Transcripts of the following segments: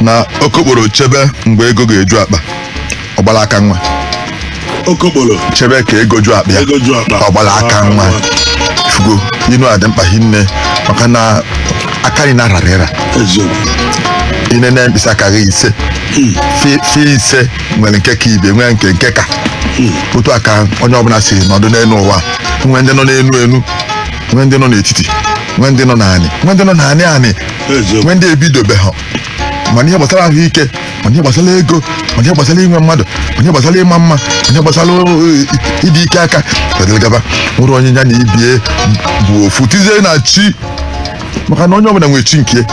na okokporo chebe mgbe ego ga-eju akpa ọ gbala aka nwa okokporo chebe ka ego ju akpa ya ego ju akpa ọ gbala aka nwa fụgo inu a dị mkpa hinne maka na aka anyị na-arara ịra eziokwu i nene mkpịsị aka gị ise fa ise nwere nke ka ibe nwee nke nke ka otu a ka onye ọbụla si nọdụ n'elu ụwa nwee ndị nọ n'elu elu nwee ndị nọ n'etiti nwee ndị nọ n'anị nwee ndị nọ n'anị anị eziokwu nwee ndị ebidobeha ma n'ihe gbasara ahụike ma n'ihe gbasara ego ma n'ihe gbasara inwe mmadụ ma n'ihe gbasara ịma mma ma n'ihe gbasara eh, ịdị ike aka dịrị gaba nwerọ onye ya na ibe ya bụ ofu tizie na chi maka na onye ọbụla nwere chi nke ya.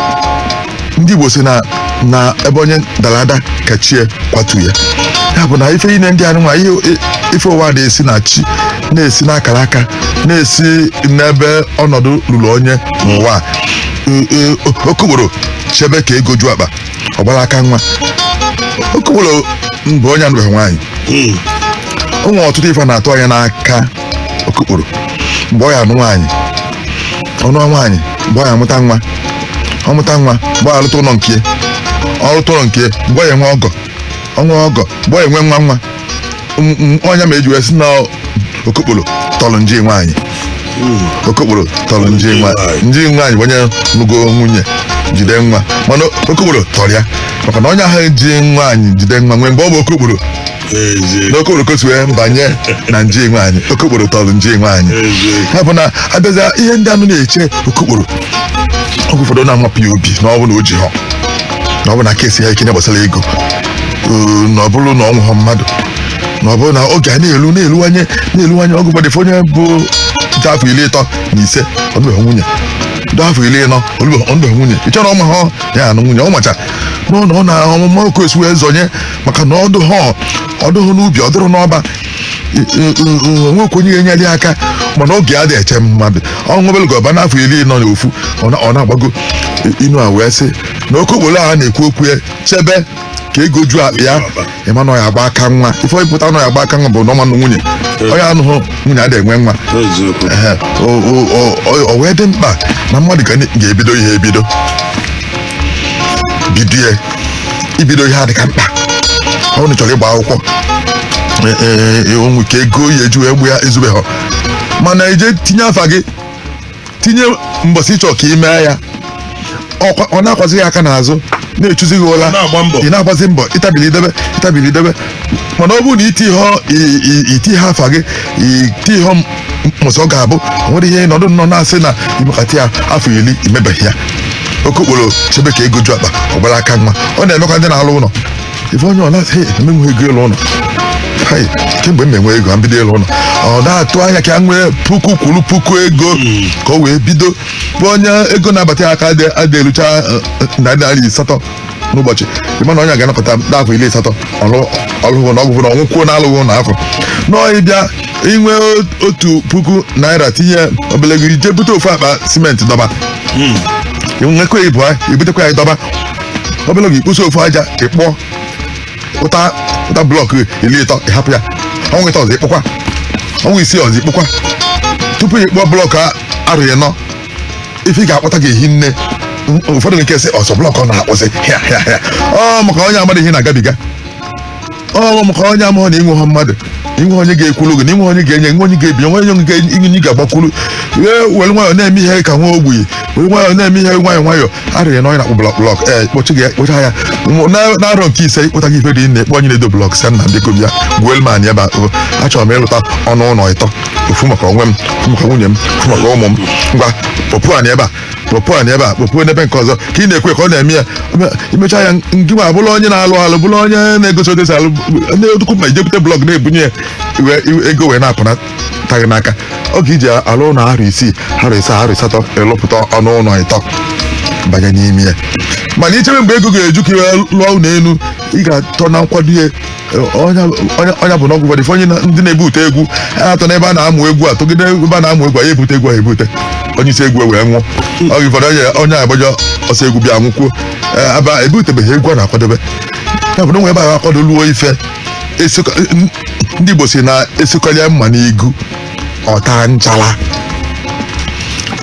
ndị igbo si na na ebe onye dara ada ka chi ya kwatu ya ya bụ na ife ine ndị anụnwa ihe ife ụwa na-esi na chi na-esi n'akara aka na-esi n'ebe ọnọdụ ruru onye n'ụwa a. E- e- okokporo chebe ka ego ju akpa ọ gbara aka nwa okokporo bụ onye anụbeghị nwaanyị Mm. o nwere ọtụtụ ife a na-atụ anya n'aka okokporo mgbe ọ ya anụ nwaanyị ọ nụ nwaanyị mgbe ọ ya amụta nwa ọ mụta nwa mgbe ọ ya alụta ụlọ nke ya. ọ lụta ụlọ nke ya, mgbe ọ ya enwe ọgọ o nwee ọgọ mgbe ọ ya enwe nwa nwa M- m- ọ nya mee eji wee si na okokporo tọrọ nji nwaanyị okokporo tọrọ nji nwaanyị nji nwaanyị bụ onye lụgo nwunye jide nwa mana okokporo tọrọ ya maka na onye ahụ ji nwaanyị jide nwa nwee mgbe ọ bụ okokporo Eze. n'okokporo ka o si wee banye na nji nwaanyị okokporo tọrọ nji nwaanyị Eze. ya bụ na abịaza ihe ndị anụ na-eche okokporo oge ụfọdụ ọ na-amapụ ya obi na ọ bụ na o jiha na ọ bụ na aka esighị ya ike n'ihe gbasara ego Ee, na ọ bụrụ na o nweghọ mmadụ na ọ bụrụ na oge a na-elu na-eluwanye na-eluwanye oge ụfọdụ ị fụ onye bụ dị afọ iri ịtọ na ise ọ nụbeghị nwunye dị afọ iri ịnọ ọ nụbeghị ọ nụbeghị nwunye ị chọrọ ọma ha ya anụ nwunye ọ macha nọ na ọ na ọmụma ka o si wee zọnye maka na ọ dụha ọ dụghụ n'ubi ọ dụghụ n'ọba o nwekwa onye ga-enyere ya aka mana oge anaghị eche mmadụ ọnwụ obere gọba n'afọ iri ịnọ na ofu ọ na- ọ na-agbago inu a wee sị na okokporo a na-ekwu okwu ya chebe ka ego ju akpa ya ị ma na ọ ya agba aka nwa ife ọ pụta na ọ ya agba aka nwa bụ na ọ ma anụ nwunye onye anụghị nwunye adịghị enwe nwa eziokwu Ehe, o- o- o- o- o wee dị mkpa na mmadụ ga- ga-ebido ihe ebido bidie ibido ihe adịka mkpa ọ bụrụ na ị chọrọ ịgba akwụkwọ e- e- e- o nwee ike ego ị ya eji agba ya ezubeghọ mana i je tinye afa gị tinye mbọsị ịchọ ka ime ya ọkwa- ọ na-akwazi gị aka n'azụ na-echuzi gị ụla ị na-agbazi mbọ ịtabili idebe mana ọ bụrụ na iti ihe ọ- i- i- iti ihe afa gị iti ihe m- mbọsị ọ ga-abụ o nwere ihe nọdụ nnọọ na-asị na imekata ya afọ iri imebeghị ya okokporo chebe ka ego ju akpa ọ gbara aka nwa ọ na-emekwa ndị na-alụ ụlọ ife onye ọ na-asị emenwe ego ịlụ ụnọ Hai, kemgbe m enwe ego a m bido ịlụ ụnọ ọ na-atụ anya ka a nwee puku kwuru puku ego ka o wee bido bụ onye ego na-abata ya aka adị- adị erucha eh, eh, narị naira asatọ n'ụbọchị ịma na onye a ga-anọkata n'afọ iri asatọ ọlụ- ọ lụghị ụnọ ọgwụgwụ na ọ nwụkwuo na alụghị ụnọ afọ nọọ ịbịa inwe o- otu puku naira tinye obele ego jee bute ofu akpa simenti dọba nwekwa ibu- ibutekwa ya dọba obele oge ikposi ofu aja ịkpụta blọk iri ịtọ ịhapụ ya ọnwa ịtọ ọzọ ịkpụkwa ọnwa isii ọzọ ịkpụkwa tupu ịkpụọ blọk arọ ịnọ ife ị ga-akpụta ga-ehi nne ụfọdụ nke sị ọ sọ blọk ọ na-akpụzi ọ maka onye amadịghị ihe ị na-agabiga ọ maka onye amahụ na inwe ha mmadụ inwe onye ga-ekwulu gị na inwe onye ga-enye nwe onye ga-ebinye nwe onye ga- inye onye ga-agbakwulu ee were nwayọ na-eme ihe ka nwa ogbenye were nwayọ na-eme ihe nwayọ nwayọ arịrị na onye na-akpụ blọk blọk ee kpọchi gị kpụcha ya Mụ- na- n'arọ nke ise ịkpụta gị ife dị nne kpọ onye na-edo blọk sị nna biko bịa gbuolu m anị ebe a o, achọrọ m ịrụta ọnụ ụlọ ịtọ ofu maka onwe m ofu maka nwunye m ofu maka ụmụ m ngwa kpọpụ anị ebe a kpọpụ anị ebe a kpọpụ n'ebe nke ọzọ ka ị na-ekwu ka ọ na-eme ya imecha ya ngị ma bụrụ onye na-alụ alụ bụrụ onye na-egosi otu esi alụ na-edukwu ma ijekwute blọk na-ebunye ya iwe- iwe- ego wee na-apụnata gị n'aka oge iji alụ ụlọ arọ isii arọ ịsaa arọ asatọ ịlụpụta ọnụ ụlọ ịtọ banye n'ime ya mana ichebe mgbe ego ga-eju ka iwee lụọ ụlọ elu ị ga-atọ na nkwado ya ọ nya bụ na oge ụfọdụ onye na- ndị na-ebute egwu ha atọ n'ebe a na-amụ egwu atọgide ebe a na-amụ egwu a ya ebute egwu a ebute onye isi egwu wee nwụọ oge ụfọdụ onye onye agbajọ ọsọ egwu bịa nwụkwuo Ee, ebe a ebutebeghị egwu a na-akwadebe ya bụ na onwe ebe a akwadolu o ife esikọ- n- ndị Igbo si na asụkalịa mma n'igu ọ taa nchala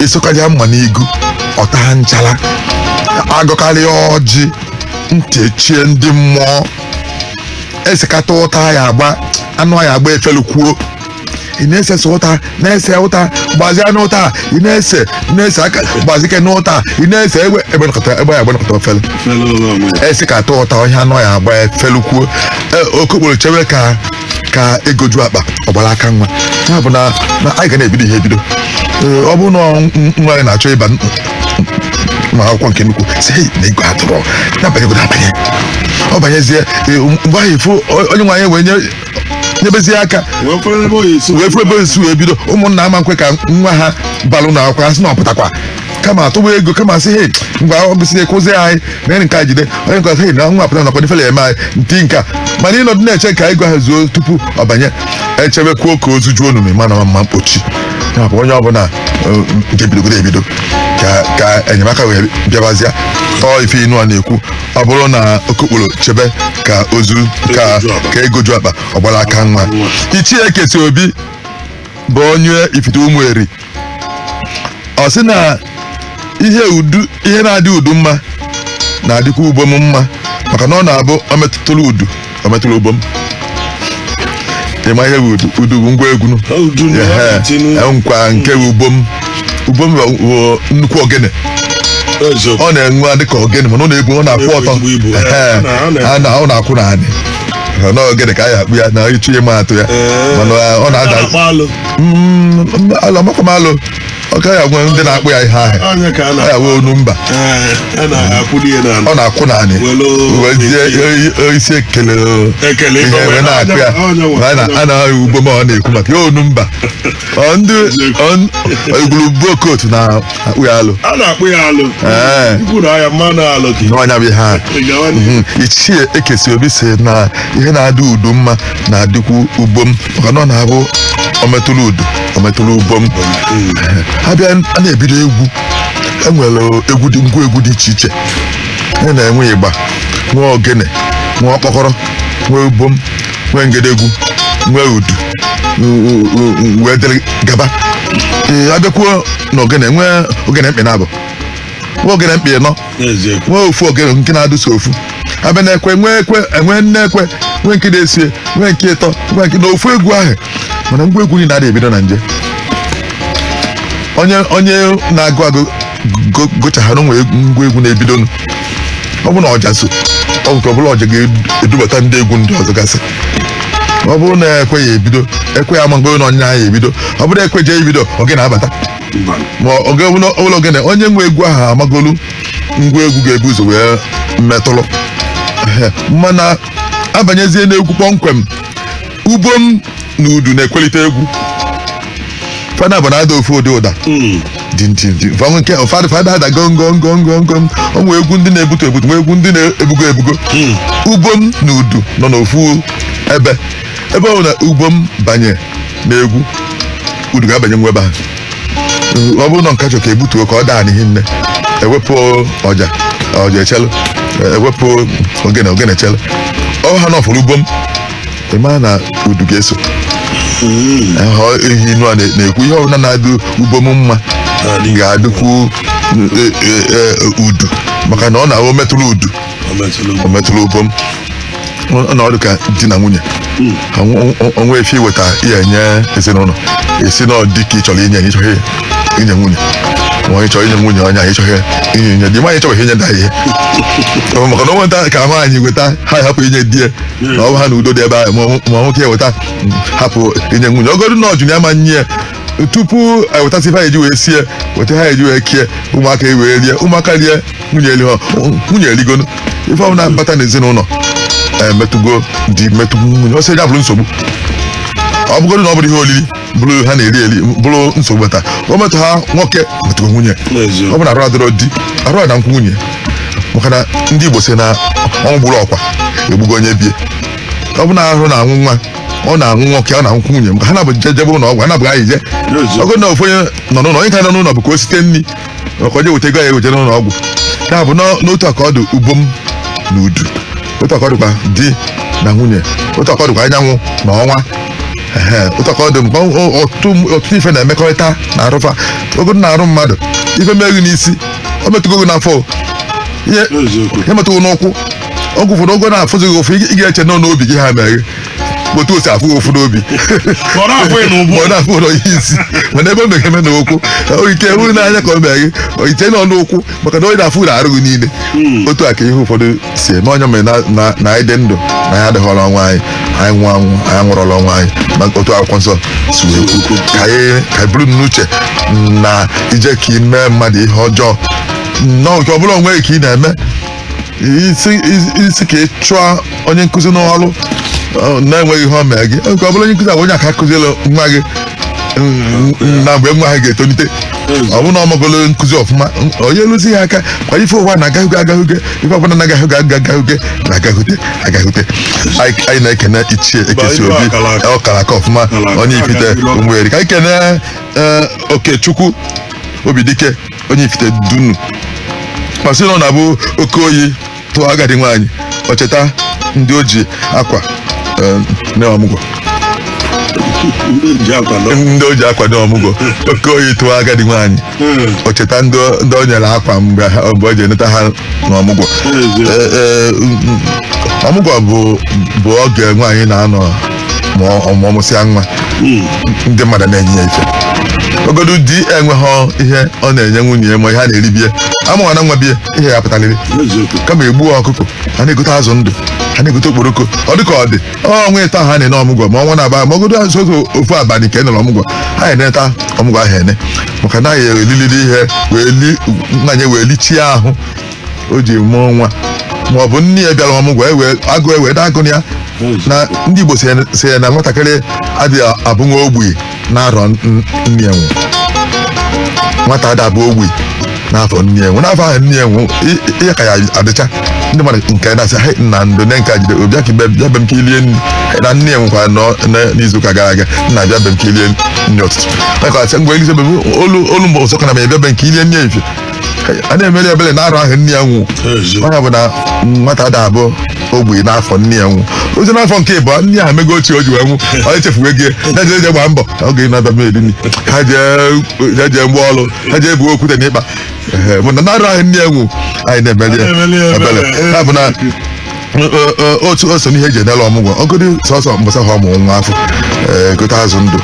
asụkarịa mma n'igu ọ taa nchala agọkarịa ọjị ntị echie ndị mmụọ esekata ụta ya agba anụ ya agba efelukwuo ị na-ese ụta na-ese ụta gbazia n'ụta ị na-ese ị na-ese aka gbazike n'ụta ị na-ese egbe ya agba nọkata ofele esekata ụta ọhịa anụ ya agba efelukwuo okokporo chewe ka ka ego ju akpa ọ gbara aka nwa ya bụ na na anyị ga na-ebido ihe ebido Ee, ọ bụrụ na ọ- n- nwa anyị na-achọ ịba n- ma akwụkwọ nke nnukwu si "Hey, na ego adịrọ nya banyegodu abanye ọ banyezie ee, mgbe ahụ ị fụ o- onye nwe anyị wee nye nyebezie aka wee fere ebe oyi so wee fụrụ ebe o si wee bido ụmụnna ama nkwe ka nwa ha balụ na akwụkwọ ha sị na ọ pụtakwa kama atụwa ego kama sị hei ngwa ọ gụsịa na-akwụzi anyị mere nke a jide onye nke hei na nwa pụta nakwa na ifele eme anyị nti nke a mana ịnọdụ na-eche ka ego ahụ zuo tupu ọ banye e chebekwuo ka ozu juo onume ma na mma mkpochi ya bụ onye ọbụla nke bidogodo ebido ka ka enyemaka wee bịabazịa ọ ọ ife inu a na-ekwu ọ bụrụ na okokporo chebe ka ozu ka ka ego ju akpa ọ gbara aka nwa Ichie Ekesiobi bụ onye Ifite Ụmụeri ọ sị na ihe udu ihe na-adị udu mma na-adịkwa ubom mma maka na ọ na-abụ o metụrụ udu o metụrụ ubom ị ma ihe bụ udu udu bụ ngwa egwu nụ. Ọ udu na Ehe, ọ dị n'udu. nkwa nke bụ ubom ubom bụ- bụ nnukwu ogene Eziokwu. ọ na-enwe adị ka ogene mana ọ na-ebu ọ na-akwụ Ọ na-ebu ọtọ ezigbo ibu. Ehe, Ọ na- ọ na- a na- ọ na-akwụ n'anị na ogene ka a ya akpụ ya na ị chọọ ịma atụ ya Ee. mana ọ na-ada na-akpọ alo Mm, mm, alo amakwa m alo ọ gaghị agwa ndị na-akpọ ya ihe ahụ onye ka a na ọ ya wee onu mba Ee, a na-akwụli ya n'ala ọ na-akwụ n'anị Welu- wee zie o- isi ekele o. Ekele ihe ibe wee wee na-akụ ya onye nwe- Ma a na- a na-ahụ ubom a ọ na-ekwu maka ya onu mba Ọ ndị ọ- igwuru buo kootu na-akpọ ya alo a na-akpọ ya alo Ee. ikwu na ya mmanụ alụ gị n'ọnya bụ ihe ahụ Ị gawa n'ihu. Mhm. Ichie Ekesiobi sị na ihe na-adị udu mma na-adịkwu ubom maka na ọ na-abụ o metụrụ udu o metụrụ ubom a bịa a na-ebido egwu e nwere egwu dị ngwa egwu dị iche iche a na-enwe igba nwee ogene nwee ọkpọkọrọ nwee ubom nwee ngedegwu nwee udu u- u- u- u- wee dịrị gaba ee a bịakwuo na ogene nwee ogene mkpị nabọ nwee ogene mkpị nọ n'eziokwu nwee ofu ogene nke na-adị sọ ofu a bịa na ekwe nwee ekwe e nwee nne ekwe nwee nke na-esie nwee nke ịtọ nwee nke na ofu egwu ahụ mana ngwa egwu niile adịghị ebido na nje onye onye na-agụ agụ go- gụchahara nwee ngwa egwu na-ebido nụ. ọ bụrụ na ọja so ọ bụ ka ọ bụla ọja ga-edubata ndị egwu ndị ọzọ gasị ọ bụrụ na ekwe ya ebido ekwe ya ama mgbe na onye ahụ ya ebido ọ bụrụ ekwe je-ebido ogene abata ma oge ọbụla ogene onye nwe egwu ahụ amagolu ngwa egwu ga-ebu ụzọ wee metụrụ Ehe, mana abanyezie n'egwu kpọmkwem ubom na udu na-ekwelite egwu fa naabọ na-ada ofu ụdị ụda fa na fa na-ada gongongongongong o nwee egwu ndị na-ebutu ebutu nwee egwu ndị na-ebugo ebugo ubom na udu nọ n'ofu ebe ebe ọbụna ubom banye n'egwu udu ga-abanye nwa ebe ahụ ọ bụrụ na nke a chọ ka ebutuo ka ọ daa n'ihi nne ewepụ ọja ọja echelu ewepụ ogene ogene echelu ọ bụ ha na ọ fụrụ ubom ị ma na udu ga-eso Aha ihe nụ a na- na-ekwu ihe ọbụla na-adụ ubom mma ga-adụkwu e, e, e, udu maka na ọ na-awụ metụrụ udu o metụrụ ubom ọ na-adụ ka di na nwunye o nwe ife i weta ya enye ezinụlọ a sị na ọ di ka ị chọrọ inye enye ị chọghị inye nwunye ma onye chọrọ inye nwunye onye anyị chọghị inye inye di nwaanyị chọghị inye di ya ihe maka na onwe nta ka nwaanyị weta ha hapụ inye di ya na ọ bụ ha na udo dị ebe ahụ ma nwoke eweta hapụ inye nwunye ọ godu na ọ jụ ya ma nye ya tupu ewetasị ife ha eji wee sie weta ha eji wee kie ụmụaka wee rie ụmụaka rie nwunye eli ha nwunye eligonu ife ọbụla bata n'ezinụlọ emetụgo di metụgo nwunye ọ sọ ya bụrụ nsogbu ọ bụgodu na ọ bụrụ ihe olili bụrụ ha na-eri eri bụrụ nsogbu bata o metụ ha nwoke metụgo nwunye ọ bụ na arụ adịrọ di arụ ana-anwụkwụ nwunye maka na ndị Igbo sị na ọnwụ gburu ọkwa egbugo onye be ya ọ bụ na ahụ na-anwụ nwa ọ na-anwụ nwoke ọ na-anwụkwụ nwunye maka ọ na-abụ e jebe ụlọ ọgwụ ha naabọ ga-eyi je ọ bụ na ofu onye nọ n'ụlọ onye nke nọ n'ụlọ bụ ka o site nri ma ka o je weta ego ya eweta n'ụlọ ọgwụ ya bụ n'ọ- n'otu aka ọ dị ubom na udu otu aka ọ dịkwa di na nwunye otu aka ọ dịkwa anyanwụ na ọnwa Ehe, otu aka ọ dị mgbe ọ- ọtụtụ ọtụtụ ife na-emekọrịta n'arụ fa ọ godu n'arụ mmadụ ife me gị n'isi o metụgo gị n'afọ o. ihe ihe metụ gị n'ụkwụ oge ụfọdụ ọ ga na-afụzi gị ụfụ ị ga-eche na ọ n'obi gị ka o mere gị otu o si afụ ụfụ n'obi ka ọ na-afụ ị n'ubu. ka ọ na-afụlu ị n'isi mana ebe o me gị eme n'ụkwụ o nwe ike bụrụ n'anya ka o mee gị i che na ọ n'ụkwụ maka na ọ na-afụlu arụ gị niile otu a ka ihe ụfọdụ si eme ọ ya mere na- na- na anyị dị ndụ na anyị adịghọrọ onwe anyị anyị nwụọ anwụ anyị anwụrọlụ onwe anyị na otu akwụkwọ nsọ si wee kwu ka anyị ka anyị buru n'uche na i je ka ị mee mmadụ ihe ọjọọ nnọọ nke ọ bụla onwe gị ka ị na-eme ị sị ị sị- ị sị ka ị chụọ onye nkụzi n'ọrụ ọ, na-enweghị ihe o mere gị nke ọ bụrụ onye nkụzi a bụ onye aka kụziere nwa gị mm, mm, na mgbe nwa ahụ ga-etolite ọ bụrụ na ọ magolo nkụzi ọfụma mm, o nyeluzie ya aka kwa ife ụwa na agaghịge agaghịge ife ọbụla na agaghịge agaghịge na agaghịte agaghịte anyị anyị na-ekene ichie Ekesiobi ọ kara aka ọfụma onye Ifite Ụmụeri ka anyị kene eh, Okechukwu Obidike onye Ifite Dunu ma sị na ọ na-abụ oke oyi tụọ agadi nwaanyị o cheta ndị o ji akwa eh, nee ọmụgwọ ji akwa nọ ndị o ji akwa nee ọmụgwọ oke oyi tụọ agadi nwaanyị ọ cheta ndị o- ndị o nyere akwa mgbe ha- mgbe o ji eneta ha n'ọmụgwọ Eh, eh, mm, mm, ọmụgwọ bụ bụ oge nwaanyị na-anọ ma ọ ma ọ mụsịa nwa ndị mmadụ na-enye ya ife ogodu di enweghị ihe ọ na-enye nwunye ya ma ihe a na-eri bie a mụwana nwa bie ihe ya-apụtarịrị kama e gbuo ọkụkọ a na-egote azụ ndụ a na-egote okporoko ọ dịka ọ dị ọnwa ịtọ ha na-ene ọmụgwọ ma ọnwa naabọ ma ogodu azụ oge ofu abalị ka e nere ọmụgwọ ha na-eneta ọmụgwọ ahụ ene maka na a ya-elilili ihe wee li nwaanyị wee lichie ahụ o ji mụọ nwa ma ọ bụ nne ya bịara ọmụgwọ ewe agụ ewe daa agụ ya na ndị Igbo sị ya- sị ya na nwatakịrị adịghị abụ nwa ogbenye n'arọ n- nne ya nwụ nwata ada abụ ogbenye n'afọ nne ya nwụ n'afọ ahụ nne ya nwụ i- i- ya ka ya adịcha ndị mmadụ nke na-asị "Hei, nna ndo nne nke a jide obi aka ibe- bịa be m ka i lie nri Hei, na nne ya nwụkwara nọ- na- n'izuụka gara aga nna bịa be m ka i lie nri ụtụtụ maka asị ngwa elize be m o luo o luo mgbe ọzọ ka nna m bịa be m ka i lie nri efi a na-emere ebere n'arọ ahụ nne ya nwụ ọ ya bụ na nwata ada abụ ogbenye n'afọ nne ya nwụ ọ zi n'afọ nke ịbụọ nne ya mego ochie o ji wee nwụ onye chefuwe gị ya jee jee gbaa mbọ ka oge na-abịa m eri nri ha jee ya jee mgba ọrụ ha jee buo okwute n'ikpa Ehe, mana n'arọ ahụ nne ya nwụ anyị na-emere ya ebere ya bụ na otu o so n'ihe e ji ene ọmụgwọ ogodu sọsọ mbọsị ahụ ọ mụ nwa afụ ee, gote azụ ndụ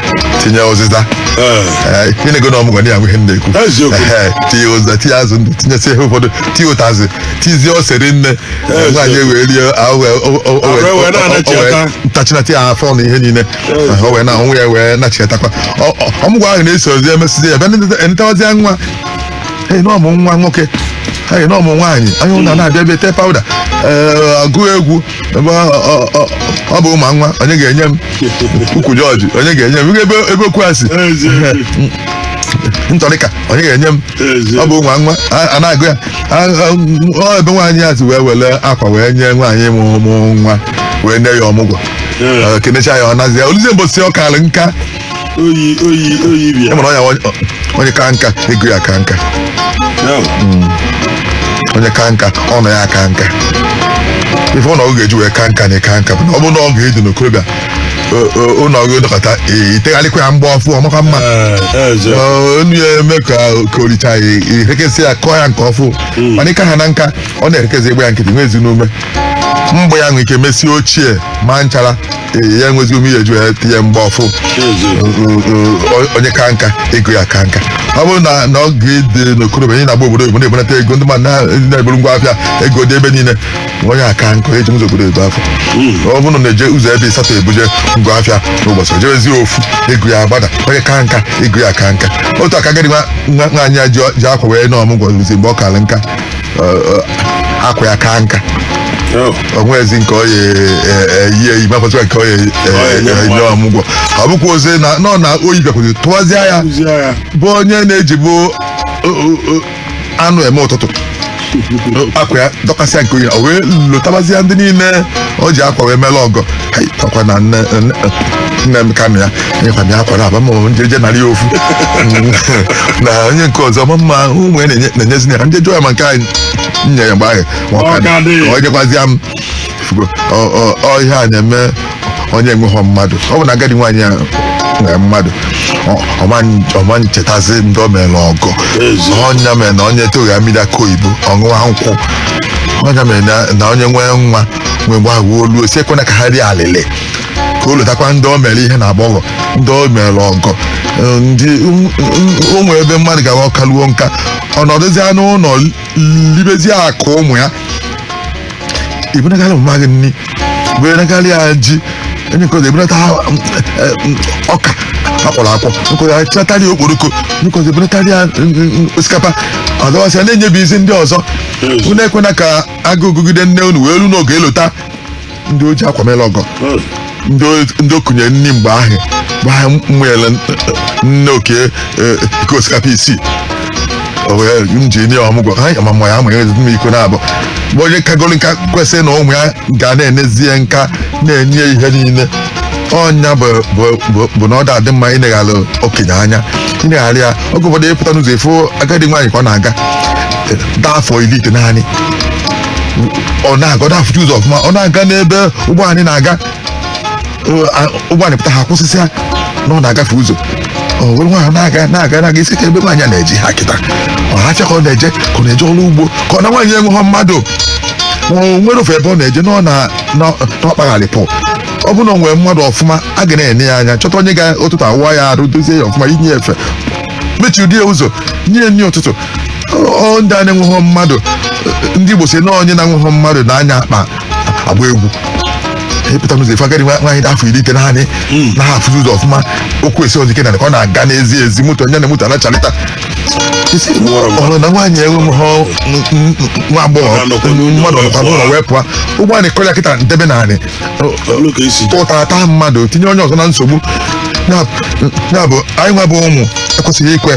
tinye ụzịza Ee, ihe na-ego na ọmụgwọ na ya ihe m na-ekwu Eziokwu. Ee, tinye ụzịza tinye azụ ndụ tinyesie ihe ụfọdụ tinye ụtazị tizie ose ri nne Eziokwu. nwaanyị ewee rie ahụ wee- o- o- o- Ahụ wee- wee na-anachi o- o- o- ata. ntachinata ya afọ na ihe niile Eziokwu. o wee na onwe ya wee nachiatakwa Ọ- ọ- ọmụgwọ ahụ na-esozi emesizi ya bịa netawazie nwa ee na ọ mụ nwa nwoke ee na ọ mụ nwaanyị onye ọbụla na-abịa bịa tee pawụda ee agụ egwu ebe ọ- ọ- ọ- ọ bụghị ma nwa onye ga-enye m ukwu jọji onye ga-enye m ebe ebe ukwu a sị ntọrịka onye ga-enye m ọ bụghị ma nwa a- a na-agụ ya A- a- ọ ebe nwaanyị a si wee were akwa wee nye nwaanyị mụ mụ nwa wee nye ya ọmụgwọ Ee. Ee, kenecha ya ọ nazi ya o luzie mbọsị ọ kara nka oyi oyi oyi e bịa nwere ọnya ọ- onye ka nka ego ya ka nka Now, onye ka nka ụnọ ya ka nka ife ụlọ gị ga-eji wee ka nka na ịka nka bụ na ọ bụrụ na ị ka dị n'okorobịa o- o- ụlọ gị dọkọta ee, i tegharịkwa ya agba ọfụ ọ makwa mma eh, eh, Jeff. Ọ, enu ya eme ka ka oricha ya erekesị ya kọọ ya nke ọfụ mana ịka ha na nka ọ na-erekezi agba ya nkịtị enwezi ume mgbe ya nwere ike mesie ochie ma nchara Ee, ya enwezi ume ihe eju ya tinye mgbe ọfụ onye ka nka ego ya ka nka ọ bụrụ na na ọ ka dị n'okorobịa anyị na-agba obodo oyibo na-ebunata ego ndị mmadụ na- ndị na-eburu ngwa afịa ego dị ebe niile onye kaa nka eje ụzọ obodo ebe afụ ọ bụrụ na na-eje ụzọ ebe ịsatọ ebuje ngwa afịa n'ụbọchị o jewezi ofu ego ya agbada onye ka nka ego ya ka nka otu aka agadi nwa nwa- nwaanyị a ji ji akwa wee na ọmụgwọ ruzi mgbe ọ kara nka akwa ya ka nka o nwezi nke ọ ya-eyi eyi ma fọdụ nke ọ ya-enye ọmụgwọ ọ bụkwa ozi na nọ na oyi bịakwụzi tụwazịa ya bụ onye na-ejibu anụ eme ụtụtụ akwa ya dọkasịa nke o yi o wee lotabazịa ndị niile o ji akwa wee mere ọgọ Hai, ọkwa na nne nne- nne m ka m ya nyekwa m ya akwa naabọ ma ọ bụ m jeje nara ya ofu na onye nke ọzọ m ma na ụmụ ya na-enye- na-enyezi ya ka m je jụọ ya ma nke anyị nye ya mgbe ahụ ma ọ ka dị. Ọ ka dị. Ka ọ nyekwazịa m Ị fụgo, ọ- ọ- ọ ihe a na-eme onye enweghọ mmadụ ọ bụrụ na agadi nwaanyị ya nwere mmadụ ọ- ọma n- ọ ma-echetazi ndị o mere ọgọ Ezi. ọ nya mere na onye toghị mmiri akị oyibo ọ ṅụwa nkwụ ọ nya mere na- na onye nwee nwa wee gwa agwa olu o si ekwena ka ha rie alịlị ka o lotakwa ndị o mere ihe na agbọghọ ndị o mere ọgọ eh, ndị ụmụ ebe mmadụ ga-akaluo nka ọ nọdụzia n'ụlọ libezie akụ ụmụ ya ibunagala mama gị nni bunagala ya ji onye nke ọzọ ebunatara, mm, eh, mm, ọka akpọrọ akpọ nke ọzọ achịnatara ya okporoko onye nke ọzọ ebunatara ya mm, mm, mm, osikapa ọzọwasị ya na-enyebizi ndị ọzọ unu ekwena ka agụụ gụgide nne unu wee ru n'oge elota ndị o ji akwa mere ọgọ ndị o- ndị o kunye nni mgbe ahụ mgbe ahụ m manyere nne oke eh, iko osikapa isii o wee m ji nye ọmụgwọ ha ma mma ya amanyere ezigbo m iko naabọ mgbe onye kagoro nka kwesịrị na ụmụ ya ga na-enezi ya nka na-enye ya ihe niile ọ nya bụ bụ- bụ- bụ na ọ da-adị mma ịneghara okenye anya ịneghara ya oge ụfọdụ ị pụta n'ụzọ ị fụ agadi nwaanyị ka ọ na-aga dị afọ iri itenaanị ọ na-aga ọ da-afụcha ụzọ ọfụma ọ na-aga n'ebe ụgbọ anị na-aga Ọ- a- ụgbọ anị pụta ha akwụsịsịa na ọ na-agafe ụzọ o were nwayọ na-aga na-aga na-aga ị sị kee ebe nwaanyị a na-eje kịta ọọ afịa ka ọ na-eje ka ọ na-eje ọrụ ugbo ka ọ na nwaanyị enweghọ mmadụ ma o nwere ofu ebe ọ na-eje na ọ na na- na ọ kpagharị pụ ọ bụrụ na o nwere mmadụ ọfụma a ga na-ene ya anya chọta onye ga ụtụtụ awụ ya arụ dozie ya ọfụma yinye ya efe mechiri di ya ụzọ nye ya nri ụtụtụ ọ ndị a na-enweghọ mmadụ ndị Igbo sị na onye na-enweghọ mmadụ na-anya akpa agba egwu ị pụta n'ụzọ ị fụ agadi nwaanyị dị afọ iri itenaanị na ha afụzi ụzọ ọfụma ụkwụ esighọzi ike na ọ na-aga n'ezi ezi moto nya na moto ana-achalịta Ị sị, ọ bụ na nwaanyị enweghọ nwa agbọghọ mmadụ ọ nọkwa n'ụlọ wee pụọ ụgbọ anị kụrụ ya kịta ndebe naanị Olu ka esi dị. ụtara taa mmadụ tinye onye ọzọ na nsogbu Ya- ya bụ anyị nwa bụ ụmụ ekwesịghị ikwe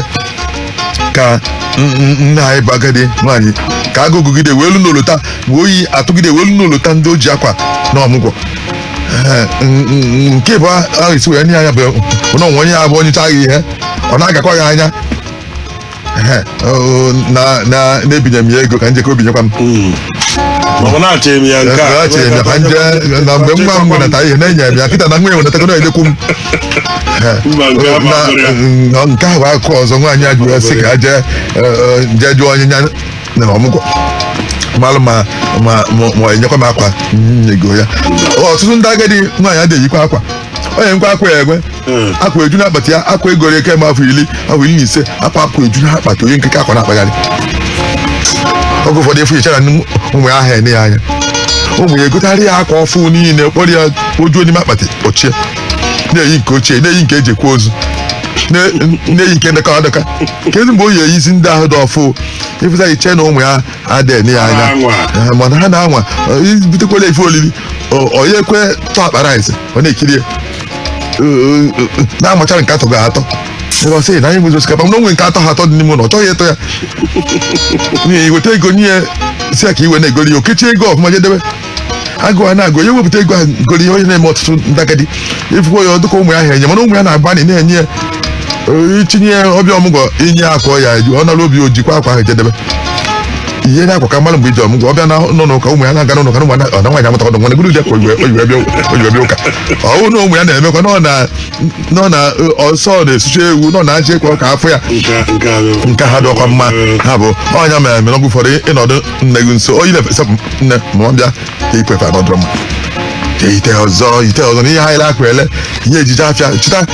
ka n- n- nne anyị bụ agadi nwaanyị ka agụụ gụgide wee lu n'olota wee oyi atụgide wee lu n'olota ndị o ji akwa na ọmụgwọ Ee, n- n- nke bụ ahụ isi wee nye anya bụ na o nwe onye ya-abụ o nyechaa gị ihe ọ na-agakwa ya anya Ehe, oo, na- na- na-ebinye m ya ego ka n jekọ o binyekwa m ma ọ na-achọ eme ya nke a achịrị m ya ka n je na mgbe nwa m wenata ihe na-enye m ya kịta na nwa ya wenatago na-edekwu m Mba, nke a Na- masịrị ya. na- nke ahụ akụkọ ọzọ nwaanyị a jụrụ ya sị ka ha jee eh, jee jụọ onye nya na ọmụgwọ malụ ma ma ma- ma enyekwa m akwa nyego ya ọtụtụ ndị agadi nwaanyị adịghị eyikwa akwa o nwekwa akwa ya enwe akwa eju n'akpati ya akwa e goro ya kemgbe afọ iri afọ iri na ise akwa akwa eju n'akpati o yi nkịka akwa na-akpagharị oge ụfọdụ ị fụ i chere na ụmụ ya aha ene ya anya ụmụ ya egotarị ya akwa ọfụụ niile kporo ya o juo n'ime akpati ochie na-eyi nke ochie na-eyi nke e ji akwa ozu na- na-eyi nke dọkara adọka kedu mgbe ọ ya-eyizi ndị ahụ dị ọfụụ ị fụta i che na ụmụ ya ada ene ya anya Na-anwa. Eh, mana ha na-anwa eh, butekwala ife olili ọ- ọ ya ekwe tọọ akpa rice ọ na-ekiri ya na-amachara nke atọha atọ ebe ọ sị na nya enwezi osikapa mana o nwe nke atọha atọ dị n'ime ụlọ ọ chọghị ịtọ ya na i weta ego nye ya sị ya ka i wee na-egori ihe o kechie ego ọfụma jedebe agụụ ana-agụ ya wepụta ego ahụ gori ihe ọ na-eme ọtụtụ ndị agadi ị fụkwa ya dịka ụmụ ya aha enye mana ụmụ ya na-agbanị na-enye ya ee, i tinye ya ọ bịa ọmụgwọ i nye akwa ya eju ọ nara obi o jikwa akwa ahụ jedebe ihe na-akwa ka mmadụ mgbe iji ọmụgwọ ọ bịa n'ụnọ ụka ụmụ ya na-aga n'ụka na ụmụ ya na nwaanyị amụta ọdụ nwa na-egoro ka o yiwe o yiwe bịa o yiwe bịa ụka ọ wụ na ụmụ ya na-emekwa nọ na nọ na nso na-esucha ewu nọ na aja ekwe ọka afọ ya nke ha dị ọ kwa mma ha bụ onye mere mere oge ụfọdụ ị nọdụ nne gị nso oyi na-efesa nne ma ọ bịa i kwefe anọdụrụ mma ite ọzọ ite ọzọ n'ihe anyị na-akụ ele ihe e ji je afịa chịta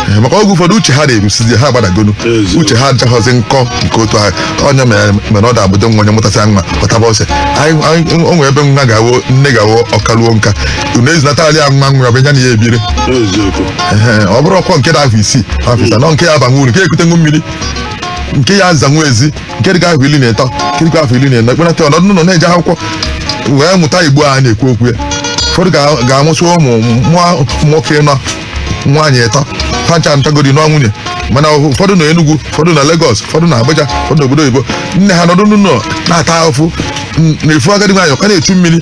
Eh, maka oge ụfọdụ uche ha na-erusizi ha gbadagonu Eziokwu. uche ha adịchaghịzi nkọ nke otu ahụ onye mere mere ọ da-abụdo nwa onye mụtasịa nwa ọ taba ose Anyị- anyị- o nwere ebe nwa ga-awụ nne ga-awụ ọ karuo nka unu ezinatara ya nwa nwa bụ ya na ya ebiri eziokwu Ehe, ọ bụrụkwọ nke dị afọ isii afọ ịsaa na nke ya-abanwu uru nke ya-ekutenwu mmiri nke ya-azanwu ezi nke dịka afọ iri na ịtọ nke dịka afọ iri na ịnọ a kpọnata ọ nọdụ n'ụlọ na-eje akwụkwọ wee mụta igbo a na-ekwu okwu ya ụfọdụ ga- ga-amụsị ụmụ mụọ ụmụ nwoke ịnọ nwaanyị ịtọ ha ncha ntagodi nụọ nwunye mana ụfọdụ na Enugu ụfọdụ na Lagos ụfọdụ na Abuja ụfọdụ na obodo oyibo nne ha nọdụ n'ụlọ na-ata ahụfụ ị na-afụ agadi nwaanyị ọ ka na-echu mmiri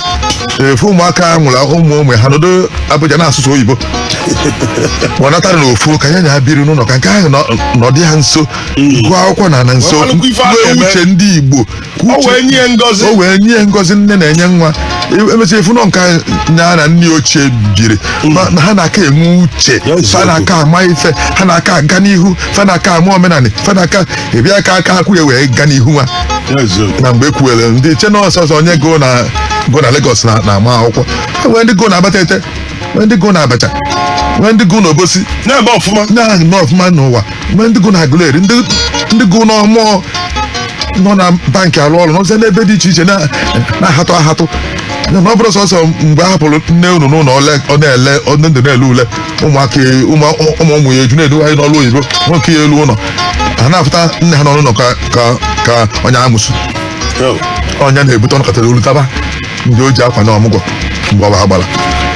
ị fụ ụmụaka ha mụrụ ụmụ ụmụ ha nọdụ Abuja na-asụsị oyibo ọ natara na ofu ka ya na ha biri n'ụlọ ka nke ahụ nọ- nọdị ha nso gụọ akwụkwọ na na nso Ọ malụkwa ife a nwee na-eme. uche ndị igbo ka O uche- wee nye ya ngọzi. o wee nye ya ngọzi nne na-enye nwa E- emesịa ị fụ na nke nya na nne ochie biri Ma- na ha na-aka enwe uche Ya eziokwu. fa na-aka ama ife ha na-aka aga n'ihu fa na-aka ama omenala fa na-aka ịbịa ka aka akwụ ya wee ga n'ihu nwa na mgbe ekwuwere ndị iche na ọ sọsọ onye gụ na gụ na Lagos na na-ama akwụkwọ E nwee ndị gụ na Abatete nwee ndị gụ na Abacha nwee ndị gụ na Obosi na-eme ọfụma na-anọ ọfụma n'ụwa nwee ndị gụ na agụleri ndị ndị gụ n'ọmụọ nọ na bankị arụ ọrụ n'ọzọ n'ebe dị iche iche na- na-ahatụ ahatụ na ọ bụrọ sọsọ mgbe a hapụrụ nne unu n'ụlọ ole ọ na-ele ọ ndị ndụ na-ele ule ụmụaka ya- ụmụ ụmụ ụmụ ya eju na-edu anyị n'ọrụ oyibo nwoke ya elu ụlọ ha na-afụta nne ha nọ n'ụlọ ka ka ka onye amosu onye na-ebute ọnụ katara olu taba ndị o ji akwa na ọmụgwọ mgbọba ha gbara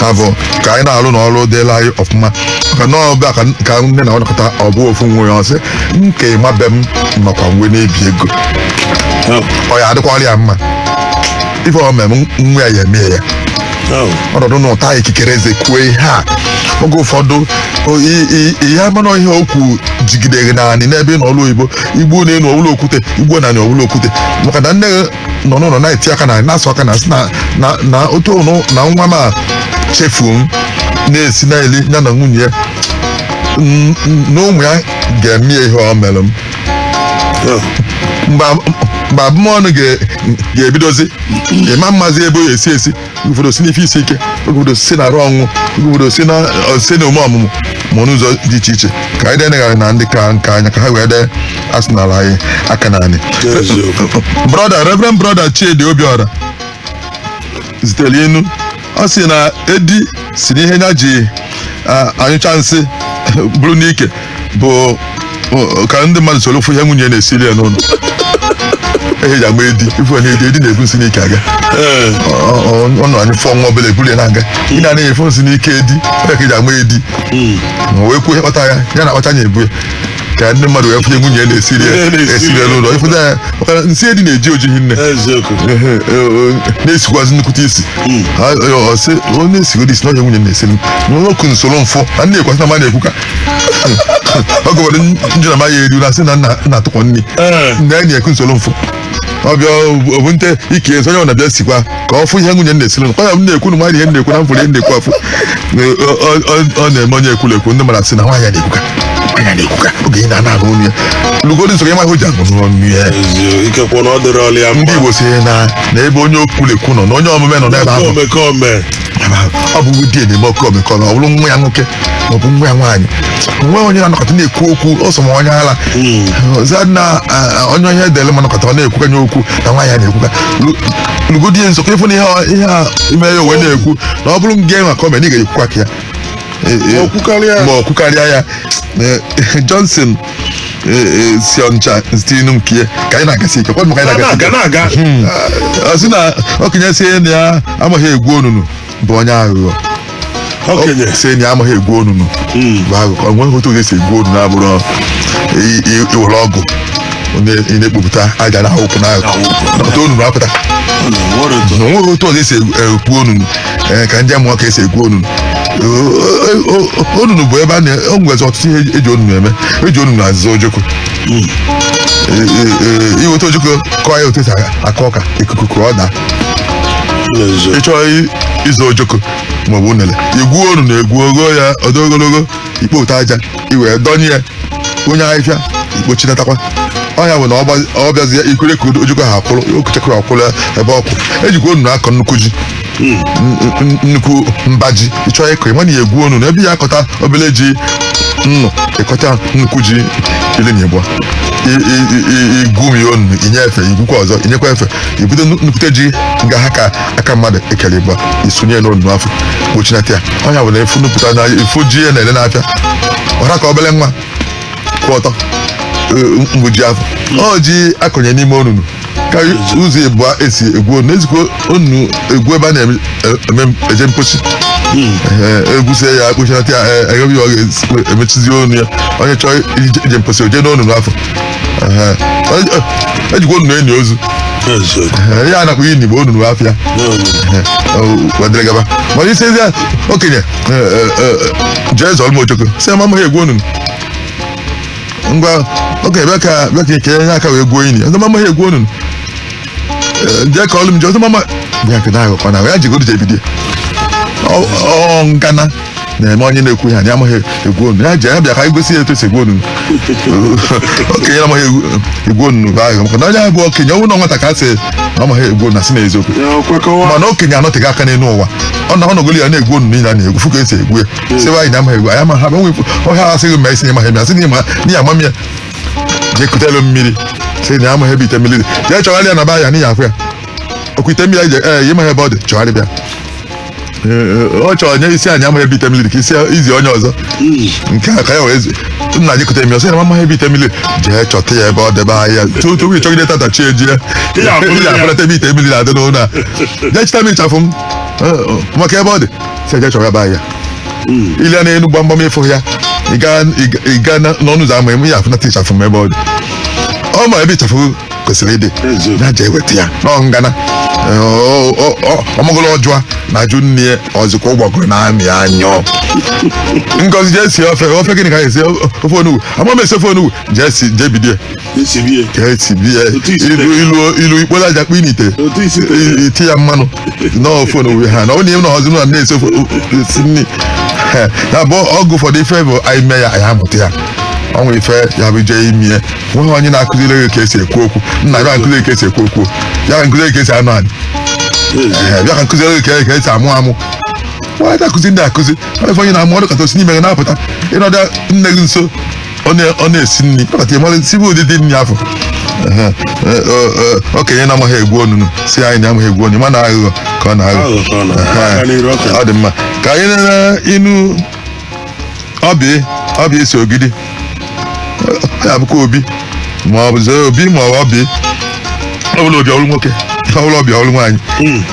ha bụ ka anyị na-alụ na ọrụ dịla anyị ọfụma maka na ọbịa ka ka nne na ọ nọkata ọ bụ ofu nwa ya ọ sị nke ịma be m nọkwa nwe na-ebi ego ọ ya adịkwara ya mma ife ọ mere m nwa ya ya emee ya ọ nọdụ na-ata ikikere eze kwuo ihe a oge ụfọdụ o- i- i- ihe amanụ ihe okwu jigidere naanị n'ebe ị nọ ọrụ oyibo i gbu n'enu ọ wụlụ okwute i gbu ana ọ wụlụ okwute maka na nne nọ n'ụlọ na-eti aka na na-asụ aka na asị na na na otu ụnụ na nwa m a chefuo m na-esi na-eli ya na nwunye ya n- n- na ụmụ ya ga-eme ya ihe ọ mere m mgbe ab- mgbe abụmọnụ ga- ga-ebidozi ị ma-amazi ebe o si esi ụfọdụ si n'ife isi ike ụfọdụ si na arụ ọnwụ ụfọdụ si na ọ- si na ome ọmụmụ ma n'ụzọ dị iche iche ka anyị denegharị na ndị ka nka anya ka ha wee dee asịnala anyị aka n'anị Eziokwu. brọda reverend brọda chidi obiọra zitere inu ọ sị na edi sị na ihe ya ji anyụcha nsị buru n'ike bụ bụ ka ndị mmadụ soro fụ ihe nwunye na-esiri ya n'ụlọ ihe e ji agba edi ị fụ na edi edi na-ebu nsị n'ike aga Ee. Ọ- ọ- ọ nọ anyị fụọ nwa obere ebuli ya na-aga ị na-anaghị afụ nsị n'ike edi ọ nya ka e ji agba edi ma wee kwuo ihe kpata ya ya na-akpacha anya ebu ya ka ndị mmadụ wee fụ ihe nwunye na-esiri ya Ihe na-esiri esiri ya ya. n'ụlọ ị fụta ya maka na nsị edi na-eji oji hinne eziokwu Ehe, e, o, na-esikwazi nnukwute isi Ha- e, ọ sị, ọ na-esigodi isi n'ọhịa nwunye m na-esiri m nwoke nsoro mfụ a na-ekwasị na ma na-ekwu ka ọ gụwara njụ na maghị eru na sị na nna nna atụkọ nri Eh. na enyi ekwu nsoro mfụ ọbịa obu nte ike ezi onye ọ na-abịa sikwa ka ọ fụ ihe nwunye nna esiri ọ ya m na-ekwu na nwaanyị ihe na-ekwu na m fụrụ ihe na-ekwu afụ Ọ- ọ- ọ- ọ na-eme onye ekwulekwu ndị mmadụ asị na nwaanyị a na-ekwuka nwaanyị a na-ekwuka oge ị na-ana ahụ onye lugodi nso ya ma ihe o ji ahụ n'ọnụ ya Ezi- ikekwe na ọ dịrị ọlị ya ndị mma Igbo sị na na ebe onye okwulekwu nọ na onye omume nọ n'ebe ahụ omekome ọ bụ di na-eme oke omekome ọ bụrụ nwa ya nwoke maọbụ nwa ya nwaanyị nwee onye na-anọkọta na-ekwu okwu ọsọ ma onye ala ọzọ na a, a, onye onye edele ma nọkọta ọ na-ekwukanye okwu na nwaanyị a na-ekwuka lugodi ya nso ka ị fụ na ihe ọ- ihe a na-eme ya o wee na-ekwu na ọ bụrụ ngị nwa ka ọ mere na ị ga-ekwukwa ka ya E- e- Ma ọ kwukarịa. ma ọ kwukarịa ya Eh, Johnson si Ọnịcha zitenụ nke ya ka anyị na-agasi ike kwadụ ka anyị na-agasi ike na-aga ọ sị na okenye sị na ya amaghị egwu onunu bụ onye aghụghọ okenye sị na ya amaghị egwu onunu bụ aghụghọ o nweghị otu ga-esi egwu onunu abụrọ i- i- i were ọgụ onye ị na-ekpopụta aja n'akụkụ n'akụkụ ọtụ onunu apụta nwere otu ọ ga-esi egwu onunu ee ka ndị a mụọ ka esi egwu onunu O- o- o- onunu bụ ebe a na o nwezi ọtụtụ ihe eji onunu eme eji onunu azọ ojoko Ee, ee, ee, i weta ojoko kọọ ya otu esi akọ ọka ikuku akwadaa n'ezo ị chọọ i- ịzọ ojoko maọbụ unele i gwuo onunu egwu gwuo ya ọ dị ogologo i kpota aja i wee dọnye ya nye ahịfịa i kpochinatakwa ọ nya bụ na ọ gbazi- ọ bịazi ya ikwere ka ojoko a akwụrụ okechekwa akwụrụ ya ebe ọ kwụ ejikwa onunu akọ nnukwu ji N- n- nnukwu mbaji ị chọọ ịkọ ị ma na ị ya-egwu onunu ebe ya akọta obele ji nnụ ịkọta nnukwu ji ili na ịbụa i gwumie onu i nye efe i gwukwa ọzọ i nyekwa efe i bute nnu- nnukwute ji nga ha ka aka mmadụ ekele ịbụa i sunye n'onunu afụ kpochinata ya ọ nya bụ na efu nnupụta na ị fụ ji a na-ele n'afịa ọ ra ka obele nwa kwụ ọtọ e, mbaji afụ ọ ji akọnye n'ime onunu ka ụzọ ịbụa esi egwu onunu ejikwa onunu egwu ebe a na-eme e- eje mposi Ee, egwusịa ya ekpuchinata ya e- eghebe ya oghe emechizie ọnụ ya onye chọọ ije ije mposi o je n'onunu afụ Ee, ọ- ọ- ejikwa onunu eni ozu eziokwu Ee, ya a na-akpọ ini n'Igbo onunu afụ n'onunu. wee dịrị gaba mana ị sịzi okenye jee zọrọ m ojoko ọ sị na amaghị egwu onunu ngwa okenye bịa ka bịa ka ekele nye aka wee gwuo ini ọ sị na amaghị egwu onunu jee kọọlụ m ji ọzọ mama bịa ka na-aghọ kwana ya jigodo jebidie ọ ngana na-eme onye na-ekwu ya na ya amaghị egwu onunu ya ji ya bịa ka anyị gosi ya etu esi egwu onunu okenye na-amaghị egwu onunu bụ aghụghọ maka na onye bụ okenye ọ bụrụ na nwata ka a sị na amaghị egwu onunu a sị na eziokwu mana okenye anọtego aka n'elu ụwa ọ na ọ nọgoli ya na-egwu onunu niile a na-egwu fụ ka esi egwu ya sịba na ya amaghị egwu na ya amaghị enweghị ihe a sị gị mee ị sị ịmaghị ma asị na ịma na ya amam ya jee kutelu mmiri sị na amaghị ebe ite mmiri dị jee chọgharịa na be ya na ị ya-afụ ya ọkwa ite mmiri anyị je ee ịmaghị ebe ọ dị chọgharịba ya Ee, ọ chọrọ nye ịsị na ya amaghị ebe ite mmiri dị ka isi izi onye ọzọ nke a ka ya wee zi nna anyị kute mmiri ọ sị na m amaghị ebe ite mmiri dị. jee chọta ya ebe ọ debe ahịa tuo tupu ịchọgide tata chi ejie Ị ga-afụlite ya. ị ga-afụlite ebe ite mmiri na-adị n'ụlọ a jee chịta m ịchafụ m maka ebe ọ dị sị ya jee chọgharịba ya i lee n'enu gbamgbam ịfụ ya ị gaa- ị ga- ị gaa na- n'ọnụ ụzọ ama eme ya afụnata ịchafụ m ebe ọ dị ọ ma ebe ịchafụ kwesịrị ịdị Eziokwu. ya jee weta ya n'ọ ngana ọ magolu ọ jụa na-ajụ nne ya ọzụkwa ụgbọgụrụ na-amị anyụ ngozi jee sie ofe ofe gịnị ka anyị esi ofe onugbu ama m esi ofe onugbu jee sie jee bido ya e sibe ya ka e tibe ya Otu isi ilu ilu ilu i kporo aja kpoo n'ite otu isi tere I- iti ya mmanụ n'ofe onugbu ha na ọ na-enwe na ọzọ na na-esi ofe o- o- esi nri Ha, na bụ ọgụ ụfọdụ ife bụ anyị mee ya anyị amụta ya ọ nwere ife ya bụ jee ime ya nweghị onye na-akụziri gị ka esi ekwu okwu nna bịa m kụziri ka esi ekwu okwu bịa m kụziri ka esi anọ anị Ee, bịa ka m kụziri gị ka- ka esi amụ amụ nwa anaghị akụzi ndị a akụzi ọ bụ ife onye na-amụ ọ nọkata o si n'ime gị na-apụta ịnọdụ nne gị nso ọ na- ọ na-esi nri ọ kata ị mara sibe ụdịdị nri afụ Ehe, e, e, e, okenye na-amaghị egwu onunu sị na ya amaghị egwu onunu mana aghụghọ ka ọ na-aghọ Aghụghọ ka ọ na-aghọ. Ehe, Aka n'iru ọka. ọ dị mma ka anyị nene inu ọbịa ọbịa isi ogidi ọ ya bụkwa obi ma ọ bụzi obi ma ọ bụ ọbịa ọ bụla obi ọrụ nwoke ọ bụla ọbịa ọrụ nwaanyị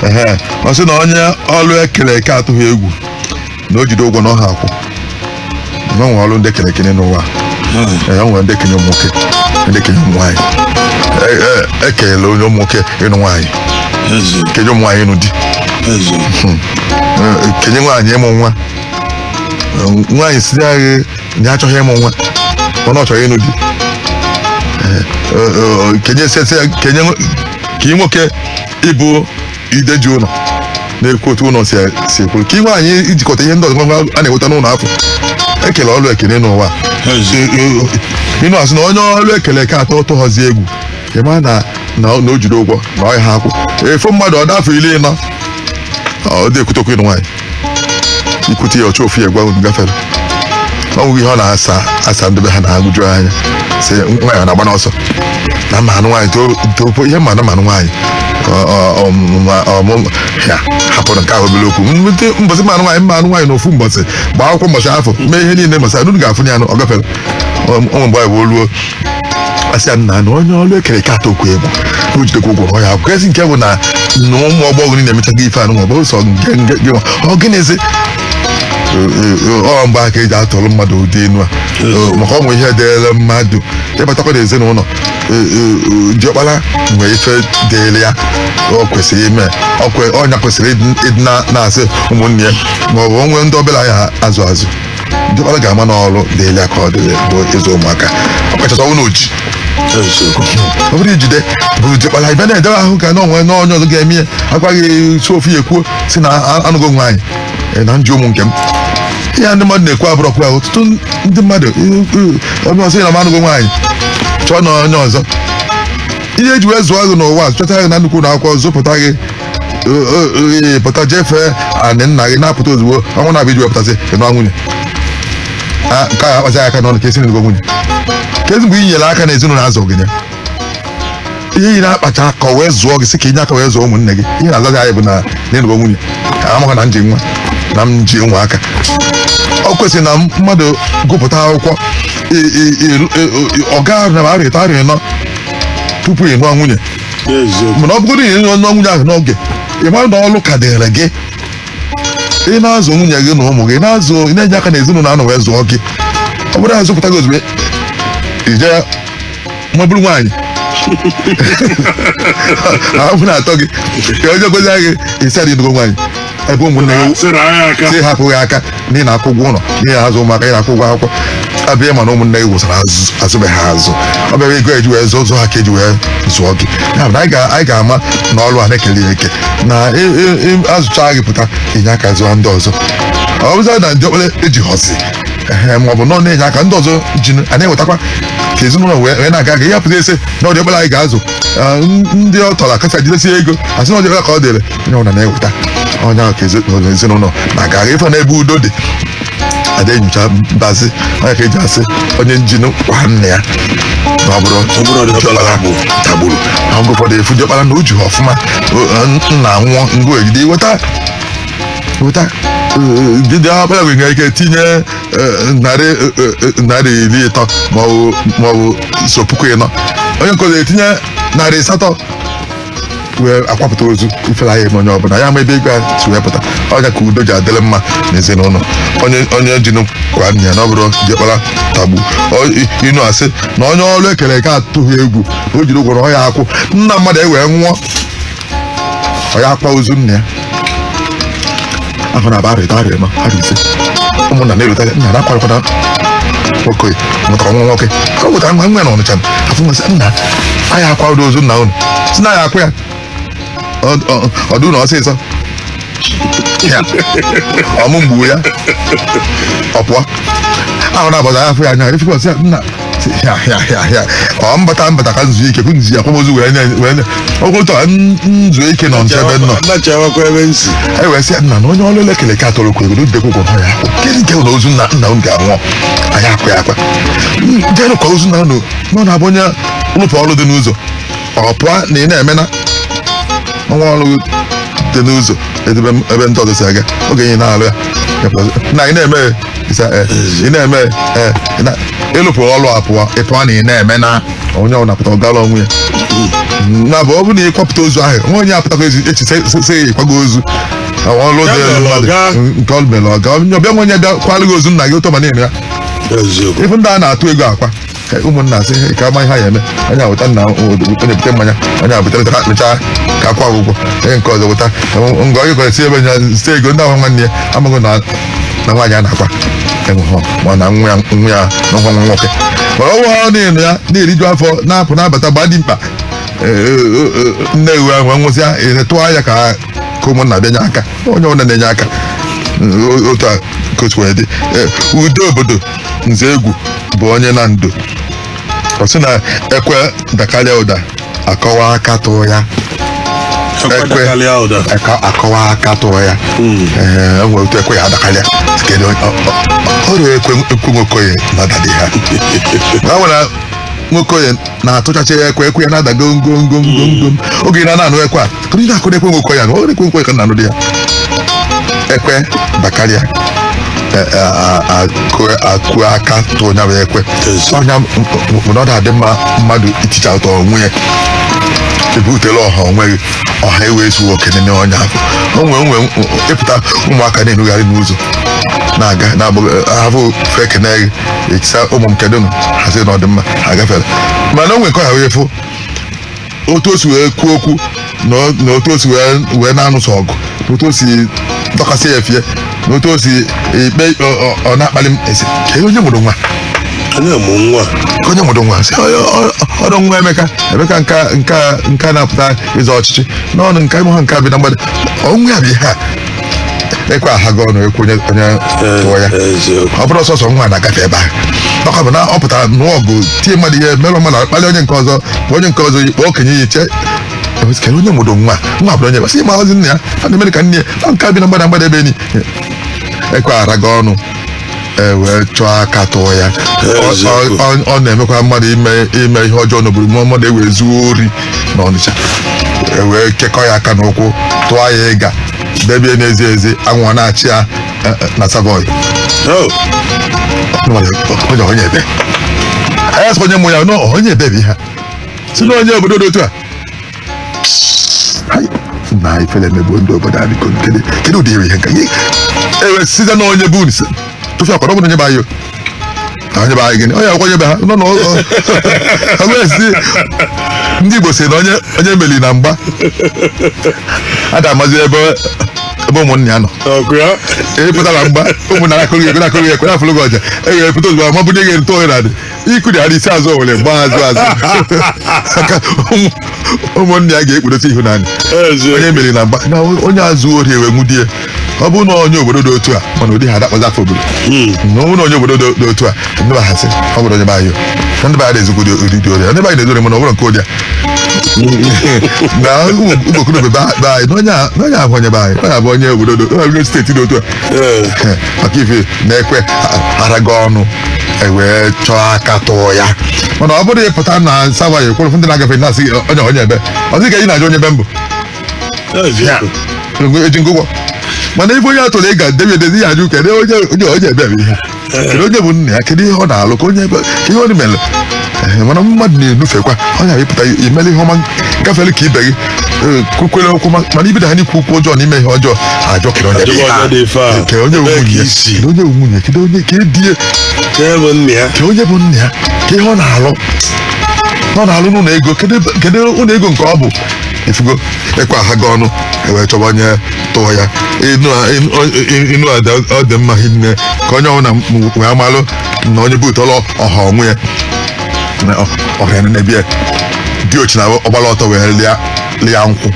Ehe, ọ sị na onye ọrụ ekere eke atụghị egwu na o jide ụgwọ na ọ ya-akwụ na e nwere ọrụ ndị e kele eke n'ụwa Ee, ya nwere ndị e kenye ụmụ nwoke ndị e kenye ụmụ nwaanyị E- e- ekenyela onye ụmụ nwoke ịnụ nwaanyị kenye ụmụ nwaanyị ịnụ di Ee, kenye nwaanyị ịmụ nwa Ee, nwaanyị sị na ya achọghị ịmụ nwa mana ọ chọrọ ịnụ di Ee, ee, ee, kenye sese kenye nwo- ka ị nwoke ịbụ ide ji ụlọ na-ekwu otu ụlọ si si ekwuru kenye nwaanyị ijikọta ihe ndị ọzọ ngwa a na-enweta n'ụlọ afụ e kele ọrụ eke n'ụwa inu a sị na onye ọrụ ekele eke atụ- tụhọzi egwu ịma na na na o jido ụgwọ na ọ ya-akwụ a fụ mmadụ ọ dị afọ iri ịnọ ọ dị ekwute okwu ịnụ nwaanyị i kwute ya ọ chọ ofu ihe gwa unu gafere ọ nweghị ihe ọ na-asa asa ndị be ha na-agụju anya sị nwaanyị a na-agba n'ọsọ na m ma-anụ nwaanyị topo ihe m ma-anụ m ma-anụ nwaanyị ọ- ọ- ọmụma- ọmụma ya hapụrụ nke ahụ obere okwu nweta mbọsị m ma-anụ nwaanyị m ma-anụ nwaanyị na ofu mbọsị gbaa akwụkwọ mbọsị afụ mee ihe niile mbọsị anụ ga-afụ ya anụ ọ gafere ọ mgbe anyị wee ruo asịa nna na onye ọrụ ekere eke atụkwa egwu o jidekwa ụgwọ ọ ya akwụ ezi nke bụ na na ụmụ ọgbọghọ niile emechago ife anụ maọbụ sọ nke nke gị nwa. ọ gịnịzi ọ mgbe a ka eji atụrụ mmadụ ụdị inu a Ee, maka o nwe ihe dịrị mmadụ ịbatakwa n'ezinụlọ ee, ee, diọkpara nwee ife dịrị ya ọ kwesịrị ime ọ kwe- ọ nya kwesịrị ịdị na- na-azụ ụmụnne ya maọbụ o nwe ndị ọbụla ya azụ azụ diọkpara ga-ama na ọrụ dịrị ya ka ọ dịrị bụ ịzụ ụmụaka ọ kachasị ọnwụ na o ji ọ bụrụ ijide bụrụ diọkpara ibe na-edebe ahụ ka na o nwe na onye ọzọ ga-eme ya agwaghị si ofu ya ekwuo si na a- anụgo nwaanyị eh, na m ji ụmụ nke m ihe a ndị mmadụ na-ekwu abụrọkwa ya ọtụtụ ndị mmadụ eh, eh, onye ọzọ ya na m anụgo nwaanyị chọọ na onye ọzọ ihe eji wee zụọ gị n'ụwa chọta gị na nnukwu ụlọ akwụkwọ zụpụta gị ee pụta je fee anị nna gị na-apụta ozugbo ọnwa na-abịa iji wepụtasị ị nụọ nwunye Ah, nke a akpazi aka n'ọnụ ka esi n'ego nwunye kezi mgbe i nyere aka na ezinụlọ azụ gị ya ihe ị na-akpacha aka wee zụọ gị sị ka inye aka wee zụọ ụmụnne gị ihe na-azazi anyị bụ na m anụgo nwunye amaghị na m ji nwa na m ji nwa aka ọ kwesịrị na mmadụ gụpụta akwụkwọ ị- ị- ị- ị- ọ gaa na arọ ịtọ arọ ịnọ tupu ị nụọ nwunye mana ọ bụgodi ị nụọ nwunye ahụ n'oge ị mara na ọrụ ka dịrị gị ị na-azụ nwunye gị na ụmụ gị na-azụ ị na-enye aka n'ezinụlọ anọ wee zụọ gị ọ bụrụ na azụpụta gị ozugbo i je mabụrụ nwaanyị ahụ na-atọ gị ka onye gozi gị ị sị na ị nụgo nwaanyị ebe ụmụnne gị sịrị anyị aka si hapụ gị aka na ị na-akwụ ụgwọ ụlọ na ị na-azụ ụmụaka ị na-akwụ ụgwọ akwụkwọ abịa ma na ụmụnne gị wụsara azụ- azụbeghị ha azụ ọ bịara ego eji wee zụọ zụọ ha ka eji wee zụọ gị ya bụ na anyị ga- anyị ga-ama na ọrụ a na-ekele ya eke na ị- ị- ị- azụcha gị pụta i nye aka zụọ ndị ọzọ ọ bụzịa na diọkpara ejihọzi ehe ma ọ bụ nọ na-enye aka ndị ọzọ ji a na-ewetakwa ka ezinụlọ wee wee na-aga aga ihe apụta asị na ọ diọkpara anyị ga-azụ Ah, n- ndị ọ tọrọ akasa jidesie ego asị na ọ diọkpara ka ọ dịrị onye ọbụla na-eweta onye ahụ ka ezinụlọ ezinụlọ na-aga aga ife n'ebe udo dị ada enyocha mbazi ọ nya ka eji asị onye ji nụ kwa nna ya na ọ bụrọ ọ bụrọ diọkpara tagburu na mgbe ụfọdụ ị fụ diọkpara na o jihọ ọfụma o- o- nna nwụọ ngụ ejide weta weta jide ọkpara gị nwere ike tinye eh, narị eh, eh, narị iri ịtọ maọbụ maọbụ so puku ịnọ onye nke ọzọ etinye narị asatọ wee akwapụta ozu ifele aya eme onye ọbụla aya ama ebe ego a si wee pụta ọ nya ka udo ji adịrị mma n'ezinụlọ onye onye ji nụ kwa nna ya na ọ bụrọ diọkpara tagbu Ọ- ị nụ asị na onye ọrụ ekere eke atụghị egwu o jiri ụgwọ na ọ ya akwụ nna mmadụ ewee nwụọ ọ ya akwa ozu nna ya ahụ na-aba arọ ịtọ arọ ịnọ arọ ise ụmụnna na-erute nna na akwarịkwata nwoke mụtara nwa nwoke ọ wetara nwa nwa na ọnịcha afụ nwa sị nna anyị akwa ụdị ozu nna unu si na ya akwa ya Ọ- ọ- ọ dị unu ọsịsọ Ya. ọmụ mgbu ya ọ pụọ ahụ na-abọza ya afụ ya anya efikwa sị ya nna ya ya ya ya ọ mbata mbata ka nzu ike kwụ nzu akwamozu wee na- wee na- ọgwụtọ n- nzu ike nọ nche ebe nọ nachawakwa ebe nsi anyị wee sị ya nna na onye ọrụ elekere ka atọrọ kwuru ego dịkwa ụgwọ nọ ya akwụ kedụ nke ụlọ ozu nna nna m ga-anwụ anyị akwa ya akwa jenụ ka ozu nna unu nọ na-abụ onye lụpụ ọrụ dị n'ụzọ ọ pụọ na ị na-eme na o nwe ọrụ dị n'ụzọ ebe ndị ọzọ si aga oge ị na-alụ ya na ị na-eme ya, ịsa, eh, ị na-eme ya, eh, ị na- ịlụpụ ọrụ apụọ ịpụọ na ị na-eme na onye ọbụla pụta ọ gara onwe ya nya bụ ọ bụ na ị kwapụta ozu ahụ nwa onye apụtakwa ezi echi sị sị ya ị kwago ozu Ọ ọrụ dị Ya mere mmadụ ọga. nke ọ mere ọga onye ọbịa nwa onye bịa kwalụ gị ozu nna gị ụtọ ma na-eme ya eziokwu ife ndị a na-atụ ego akwa Ka ụmụnna sị "Hey, ka a ma ihe a ya-eme onye a weta nna onye bute mmanya onye a butere ha kpechaa ka akwa ụgwọ onye nke ọzọ weta ngọ onye kwere si ebe nya si ego ndị ahụ nwanne ya amaghị na na nwaanyị a na-akwa enweghọ ma na nwa ya nwa ya na nwa nwa nwoke mana ọnwa ha na-enu ya na-eriju afọ na-apụ na-abata gbaa dị mkpa nne ewu ahụ nwụsịa tụọ anya ka ka ụmụnna bịanye aka onye ọbụla na-enye aka o- otu a ka o si wee dị Eh, udo obodo nze egwu bụ onye na ndo ọ sị na ekwe dakarịa ụda akọwa aka tụọ ya ekwe Karịa ụda. aka- akọwa aka tụọ ya Ee, o nwere otu ekwe ya-adakarịa kedu onye- ọ- ọ- ọ rọ ekwe ekwe nwokoye na-adadị ha na nwere nwokoye na-atụchacha ya ekwe ekwe ya na-ada gom gom gom gom gom oge ị na-anụ ekwe a tụrụ ị na-akụ ekwe nwokoye na ọ rọ ekwe nwokoye ka a na-anụ ụda ya ekwe dakarịa e- e- a- a- kụọ- akụ aka tụọ nya bụ ekwe ọnya mgbe ọ na-adị mma mmadụ iticha ụtọ onwe ya ebutela ọha onwe gị ọha ewee zuo oke n'ime ọnya afọ onwe onwe ịpụta ụmụaka na-enugharị n'ụzọ na-aga na-abụ ahụ fa ekene gị ị sị ha ụmụ m kedụ nụ ha sị na ọ dị mma ha gafere mana o nwe nke ha wee fụ otu o si wee kwuo okwu na o- na otu o si wee wee na-anụsọ ọgụ na otu o si dọkasị ya efe na otu o si ikpe ikpe ọ- ọ- ọ na-akpali m a sị "Ka onye mụrụ nwa onye mụ nwa Ka onye mụrụ nwa sị "Ọ- ọ- ọ rọ nwa Emeka Emeka nka nka nka na-apụta ịzọ ọchịchị n'ọnụ nka ịmụ ha nke bi na mgbada ọ nwa ya bụ ihe a ekwe ahaghị ọnụ ekwuo onye onye tụọ ya eziokwu ọ bụrụ sọsọ nwa na-agafe ebe ahụ ọ ka bụ na ọ pụtara nụọ ọgụ tie mmadụ ihe merụ mmadụ akpali onye nke ọzọ kpọọ onye nke ọzọ ikpe okenye ya-eche kere onye mụrụ nwa nwa bụrụ onye basị marọzi nna ya a na-emere ka nne ya na nke a bi na mgbada mgbada ebe anyị ekwe araghị ọnụ e wee chọọ aka tụọ ya Ọ- ọ- ọ- ọ na-emekwa mmadụ ime ime ihe ọjọọ n'obodo ma mmadụ ewee zuo ori na ọnịcha e wee kekọọ ya aka na ụkwụ tụọ ya iga debe n'ezi ezi anwụ ana-acha ya eh, eh, na Savoy Oh, onye onye ebe a ya-asị onye mụ ya nọ onye ebe bụ ihe a. sị na onye obodo dị otu a Hai, na ifele emegbuo ndị obodo anyị biko kedu kedu ụdị ihe nka ihe ewe sịzi na onye bụ nse tụfịakwa ọbụla onye be anyị na onye be anyị gịnị onye akwụkwọ onye be ha nọ n'ọgụesi ndị igbo sị na onye onye meli na mgba a ga-amazi ebe ebe ụmụnna ya nọ ọkụ ya e pụtara mgba ụmụnna akụrụ ya ekwe na-akụrụ ya ekwe na-afụrụ gị ọja e were pụta ozugbo ma ọ bụ nye gị ntụ ohere adị ikudara isi azụ owere gbaa azụ azụ aka ụmụ- ụmụnne ya ga-ekpudosi ihu n'anị Eze. onye meri na mgba na onye zuo ori ewe nwude ya ọ bụrụ na onye obodo dị otu a mana ụdị a ada-akpọzi afa obodo na ọ bụrụ na onye obodo dị- dị otu a ndị be ha asị ọ bụrọ onye be anyị o. ndị be anyị na-ezukwa ụdị dị ori ndị be anyị na-ezu ori mana ọ bụrọ nke ụdị a na ụmụokorobịa be anyị na onye a- na onye ahụ onye be anyị onye a bụ onye obodo dị- onye steeti dị otu a Ee. maka ife na ekwe araghị ọnụ ewee chọọ aka tụọ ya mana ọ bụrụ ịpụta na Savoy ekwere ndị na-agafe na-asị gị onye onye ebe ọ sị ka ị na-ajụ onye ebe m bụ eji m gị ụgwọ mana ịfụ onye atụrụ iga debe n'ezi ya ajụ kedu onye onye onye ebe bụ ihe kedu onye bụ nna ya kedu ihe ọ na-alụ kee onye ebe kee ihe ọ mere Ee, mana mmadụ na-enufekwa ọ na-epụta imere ihe ọma gafere ka ibe gị eh, kwukwere okwu ma- mana ibido ha n'ikwu okwu ọjọọ na ime ihe ọjọọ ha ajụọ kere onye Ajụba onye dị ife a. Nke onye Ebee ka nwunye isi? na onye nwunye kedu onye ka edie Kee bụ nna ya kee onye bụ nna ya kee ihe ọ na-alụ ọ na-alụ n'ụlọ ego kedu ebe- kedu ụlọ ego nke ọ bụ ịfụgo ekwe ahaghị ọnụ ewee chọba onye tụọ ya inu a- inu- ọ- inu a ọ dị mma hinne ka onye ọbụla wee malụ na onye butere ọha onwe ya ọhịa na-ebi ya dị ochi na ọ gbara ọtọ wee lịa lịa nkwụ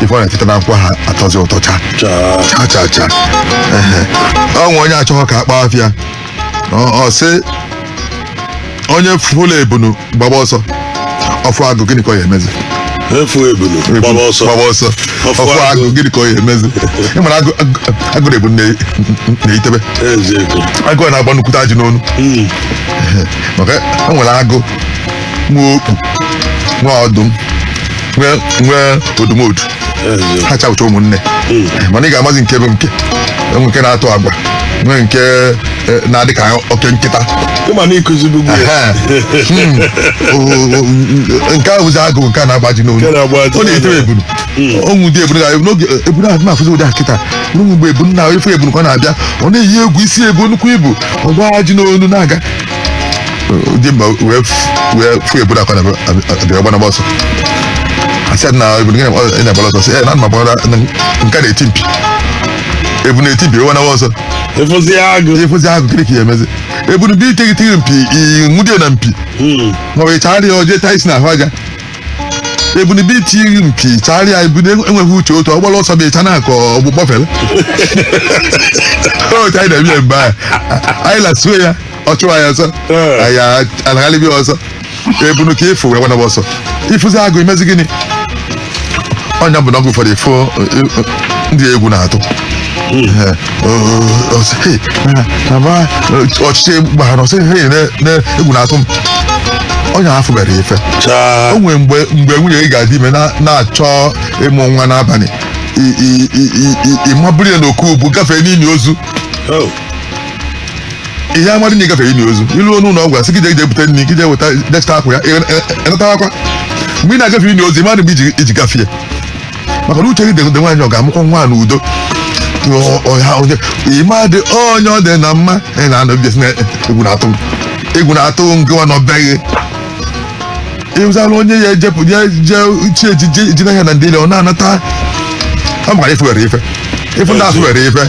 ife ọ na-eteta na nkwụ ha atọzi ụtọ cha cha cha cha Ehe. ọ nwe onye achọghọ ka akpọ afa ya ọ sị onye fụlụ ebunu gbaba ọsọ ọ fụ agụ gịnị ka ọ ya emezi ọ fụ ebunu gbaba ọsọ gbaba ọsọ Ọ fụ ọ fụ agụ. agụ gịnị ka ọ ya emezi ị mara agụ- agụ- agụ na ebunu eyitebe eziokwu agụ a na-agba nnukwute ajị n'onu Mm. maka e nwere agụ nwee okpu nwee ọdụm nwee nwee odumodu ha chawụcha ụmụnne mana ị ga-amazi nke bụ nke e nwee nke na-atụ agwa nwee nke eh, na-adị ka oke nkịta ịma na ịkụzibu gị ya. Ehe. Hmm. O- o- o- nke a bụzi agụ nke a na-agba aji n'olu Nke na-agba aji ọ na-etere n'olu. ebunu ọnwụ dị ebunu ga- n'oge ebunu ahụ na-afụzi ụdị ahụ kịta n'ụmụ mgbe ebunu na ị fụ ebunu ka ọ na-abịa ọ na-eyi egwu isi ebu nnukwu ibu ọ gba aji n'olu na-aga dị mba wee f- wee fụ ebunu ka ọ na-abịa ọ gbanaba ọsọ a sị ya na ebunu gị na-agbara ọsọ sị ya na ana m agbara nke a na-eti mpi ebunu na-eti mpi ọ gbanaba ọsọ ị fụzi agụ ị fụzi agụ gịnị ka ya emezi ebunu bụ iti gị ti gị mpi i nwudie na mpi Hmm. ma ọ bụ ị chara ya o je taa isi n'ahụ aja ebunu bụ iti gị mpi chagharịa ebunu enweghị uche otu ọ gbara ọsọ bụ ị cha n'akụkụ ọ gbakpọfere otu anyị na-eme ya mgbe ahụ anyị lasuo ya ọ chụwa ya ọsọ anyị anaghalịbi ọsọ ebunu ka ị fụ wee gbanaba ọsọ ị fụzi agụ i mezi gịnị ọ nya bụ na oge ụfọdụ ị fụ ndị egwu na-atụ naba ọchịchị gbara ọ sị na egwu na-atụ m onye afụ mere ife chaa o nwere mgbe mgbe nwunye gị ga-adị ime na- na-achọ ịmụ nwa n'abalị i- i- i- i- i- ị ma buru ya n'oku ubu gafee n'ili ozu Oh, ị ya amadị na ị gafere ili ozu i luo n'ụlọ ọgwụ a sị gị jee jee bute nri gị jee weta je chịta akwa ya ị natakwa mgbe ị na-agafe ili ozu ị madị mgbe i ji- i ji gafee maka na uche gị dịgodu nwaanyị ọ ga-amụkwa nwa n'udo ị madị onye ọ dị na mma ị na-anọ bịa sị na egwu na-atụ m egwu na-atụ m gịwa na ọbịaghị ịzala onye ya ejepụ ya je chi ejie ejinaghị na ndeli ọ na-anata ọ maka ife were ife ị fụ ndị ahụ were ife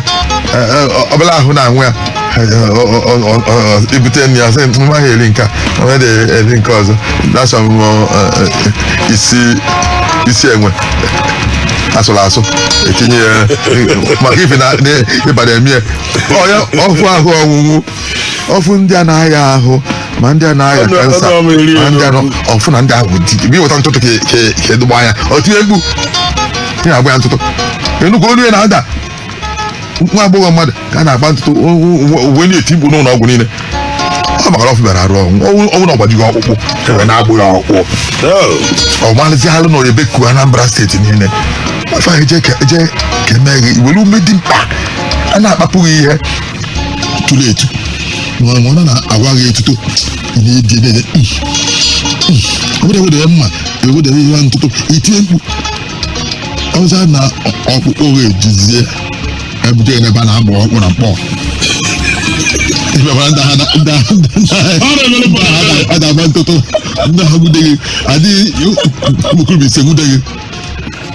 e, e, ọ- ọ bụrụ ahụ na-anwụ ya e, e, ọ- ọ- ọ- ọ- ọ- i bute nri ya sị mma ha eri nke a onye dị eri nke ọzọ na-asọ m ọ, e, e, isi isi enwe asụrụ asụ etinye ya e, maka ife na ịba na-eme onye ọ fụ ahụ ọnwụnwụ ọ fụ ndị a na-aya ahụ ma ndị a na-aya Ọnụ- kansa ọnụ ọma eri ma ndị a elu. nọ- ọ fụ na ndị ahụ dị ebe i weta ntụtụ ka ka ka edogbo anya o tie mkpu ị na-agba ya ntụtụ enugwu olu ya na-ada nwa agbọghọ mmadụ ka a na-agba ntụtụ o- o- o- o wee na-eti mkpu n'ụlọ ọgwụ niile ọ maka na ọ fụbarọ arụ ọnwụ ọnwụnwụ na ọ gbajighị ọkpụkpụ e wee na-agba ya ọkpụkpụ Oh. ọ malịzi alụ nọrọ ebe kuo Anambra steeti niile afọ eje ka eje ka eme gị iwere ume dị mkpa a na-akpapụghị ihe tụrụ etu ma ọ na a na-awa gị etuto ị na-edi na-ede obodo ewedere mma ewedere ihe ntụtụ i tie mkpu ọzọ na ọkpụkpọ gị ejizie ebute n'ebe a na-agba ọkpụ na mkpọ a na-agba ntụtụ ndị ha gwude gị adịghị ụmụokorobịa ise gwude gị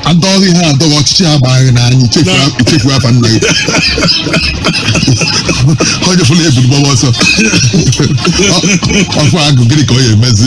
adọ gị ha adọ gị ọchịchị agbaa gị n'anya ị chefu- chefu afa nna gị onye fụla ebulu gbaba ọsọ Ọ- ọ fụ agụ gịnị ka ọ ya emezi